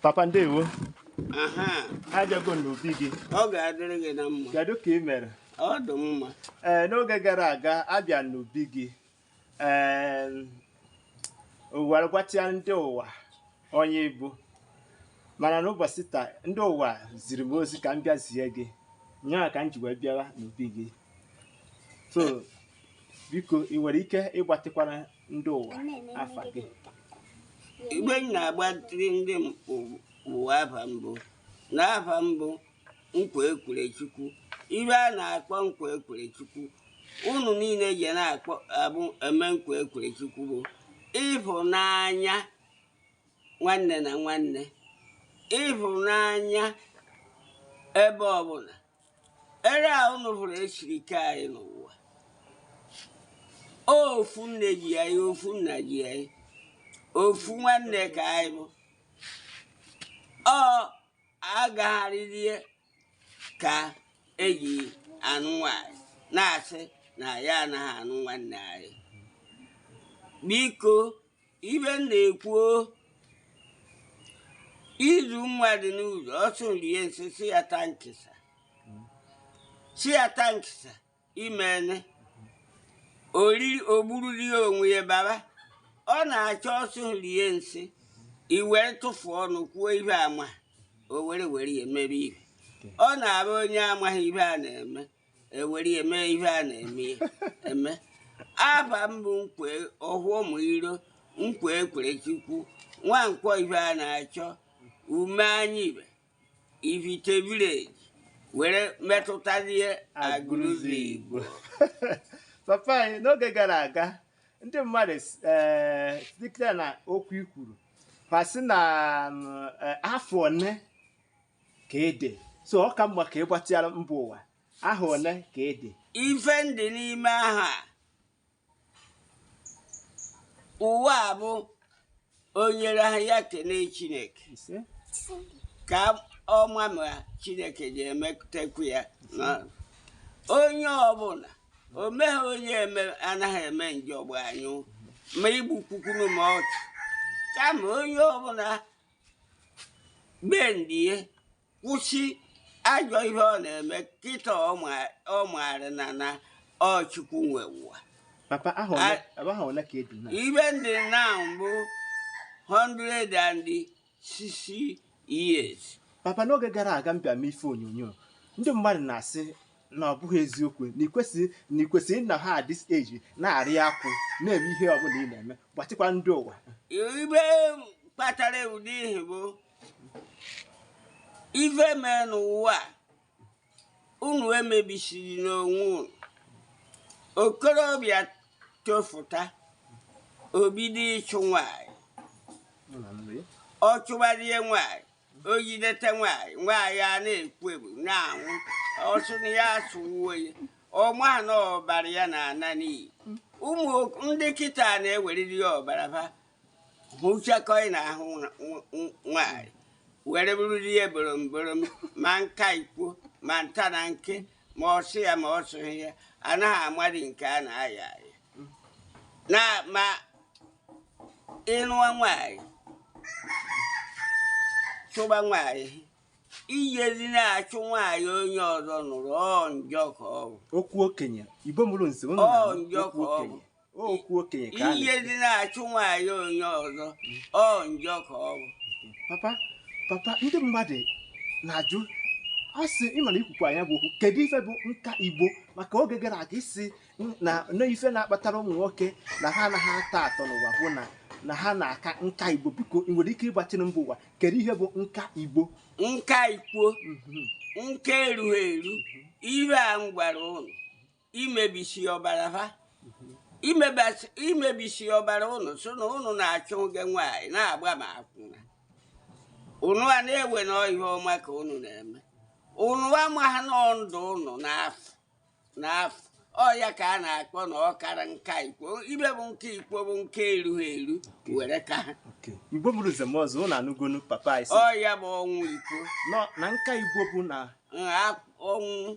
papa ndewo aha abịago n'obi gị ọ ga-adịrị gị na mma kedu ka ị mere ọ dị mma ee n'oge gara aga abịa n'obi gị ee ụwa gwatịa ndị ụwa onye ị bụ mana n'ụbọsị taa ndị ụwa ziri m ozi ka m bịa zie gị nyaa ka m ji wee bịara n'obi gị so biko ị nwere ike ịgbatịkwara ndị ụwa afa gị ive m na-agbatịrị ndị ụwa afa m bụ na afa m bụ nkwa ekwere chukwu ive a na-akpọ nkwa ekwere chukwu unu niile ji na-akpọ abụ eme nkwa ekwere chukwu bụ ịvụnanya nwanne na nwanne ịvụnanya ebe ọbụna ere a unu hụrụ e siri kee anyị n'ụwa ofu nne ji anyị ofu nna ji anyị ofu nwanne ka anyị bụ ọ agagharịrie ka e ji anụ nwanyị na-asị na ya anaghị anụ nwanne anyị biko ive m na-ekwu ọ i zu mmadụ n'ụzọ ọ sị rie nsị sị ya thank sir sị ya thank sir imene oriri ogburuli onwe ya baba ọ na-achọ ọ sị rie nsị i were tụfu ọnụ kwuo ive ama o were were ya emebe ive ọ na-abụ onye amaghị ive a na-eme e were eme ihe a na-eme eme afa m bụ nkwa ọhụ ụmụ iro nkwa ekwere chukwu nwankwọ iheanachọ ume anyị ibe ivite village were metụtazie aguluzigbo papa anyị n'oge gara aga ndị mmadụ ee dịka na okwu i kwuru ma sị na mm, eh, afọ one ka ị dị so ọ ka mma ka ị gbatịara mba ụwa afọ one ka ị dị ife ndị n'ime aha a. ụwa a bụ onyere ha ya kene chineke ise ka ọma ma chineke ji emetekwu ya na onye ọbụna o meghị onye eme- anaghị eme njọ gba anyụ ma igbukwukwuru ma ọchụ kama onye ọbụna gbendie kwụsị ajọ ive ọ na-eme kịta ọ maara na na ọ chukwu nwe ụwa ive m dị na m bụ 160 years papa n'oge gara aga m bịa mee ife onyonyo ndị mmadụ na-asị na ọ bụghị eziokwu na i kwesịrị ịnọ ha at this age na-arị akwụ na-eme ihe ọ bụla ị na-eme gbatịkwa ndị ụwa ife kpatara ụdị ihe bụ ife mee n'ụwa a, unu emebisiri n'onwe unu okorobịa tofụta o bido ịchụ nwanyị ọ chụbarie nwanyị o jidete nwaanyị nwaanyị a na-ekwu egbu na-anwụ ọ sị na ya asụwuo ya ọ ma na ọbara ya na-ana n'iyi ụmụ ndị kịta na-eweriri ya ọbara ha wụchakọọ n'ahụ nwaanyị were bụrụri ya boromborom ma nka ikwo ma nta na nke ma ọ sụ ya ma ọ sụghị ya anaghị amadị nke a na-aya aya na ma ị nụwa nwaanyị chụba nwaanyị i yezi na-achụ nwaanyị onye ọzọ nụrụ ọ njọ ka ọ bụ okwu okenye igbo mụrụ nze ọ njọ ka ọ bụ okwu okenye ka i yezi na-achụ nwaanyị onye ọzọ ọ njọ ka ọ bụ papa papa ndị mmadụ na-ajụ a sị ị mana ikwukwa nya bụ okwu kedu ife bụ nka igbo maka oge gara aga i si n- na na ife na-akpatara ụmụ nwoke na ha anaghị atọ atọ n'ụwa bụ na na ha na-aka nka igbo biko ị nwere ike ịgbatịrị mba ụwa kedu ihe bụ nka igbo nka ikwo nka erughị eru ihe a m gwara ụnụ imebisi ọbara ha imebisi ọbara ụnụ so na ụnụ na-achụ oge nwaanyị na-agba ma akwụna ụnụ ana-ewe na ọ ihe ọma ka ụnụ na-eme ụnụ amaghị na ndụ ụnụ n'afọ n'afọ ọ ya ka a na-akpọ na ọ kara nka ikpo ife bụ nka ikpo bụ nka erughị eru were ka ha igbo mụrụ nze mụọ ọzọ ụnụ anụgonu papa i si ọ ya bụ ọnwụ ikpo na nka igbo bụ na ọnwụ